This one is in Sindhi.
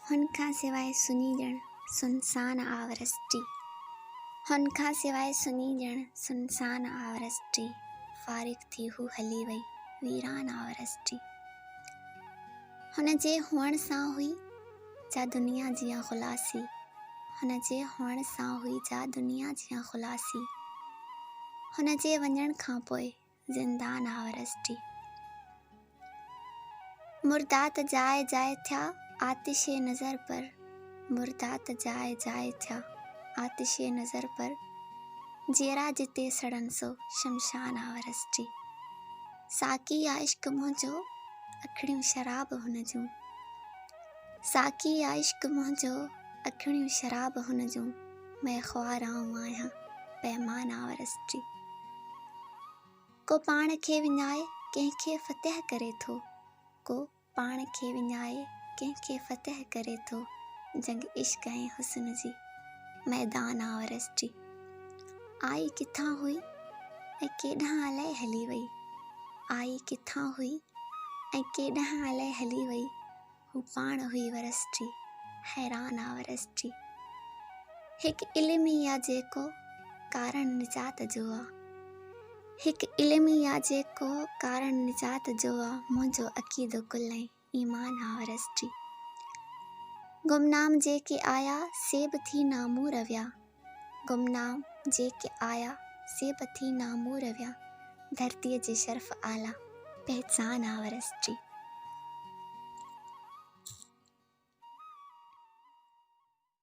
هن کان سواء سني ڄڻ سنسان آورس ٽي هن کان سواء سني ڄڻ سنسان آورس ٽي فارغ ٿي هو هلي وئي ويران آورس ٽي هن جي هئڻ سان هئي جا دنيا جيان خلاصي هن جي هئڻ سان هئي جا دنيا جيان خلاصي هن جي وڃڻ کان پوء زندان هارس جي مردات جاء جاء ٿيا آتش نظر پر مردات جاء جاء ٿيا آتش نظر پر جيئرا جتي سڙن سو شمشان هارس جي ساقي آ عشق منهنجو اکڙيون شراب هن جون ساقي آ عشق منهنجو اکڙيون شراب هن جون ۾ خوار آئون آهيان پيمان آورس جي. ڪو پاڻ کي وڃائي ڪنهن کي فتح ڪري ٿو، ڪو پاڻ کي وڃائي ڪنهن کي فتح ڪري ٿو جنگ عشق ۽ حسن جي ميدان آورس جي. آئي ڪٿان هئي ۽ ڪيڏانهن الائي هلي وئي، آئي ڪٿان هئي ۽ ڪيڏانهن الائي هلي وئي. هو پاڻ هئي ورس جي، حيران آ ورس جي. هڪ علم ئي آ جيڪو، ڪارڻ نجات جو آ. هڪ علم ئي آ جيڪو، ڪارڻ نجات جو آ. منهنجو عقيدو ڪل ۽ ايمان آ ورس جي. گمنام جيڪي آيا، سي به ٿي نامور ويا. گمنام جيڪي آيا، سي به ٿي نامور ويا، ڌرتيء جي شرف اعليٰ، پهچان آ ورس جي.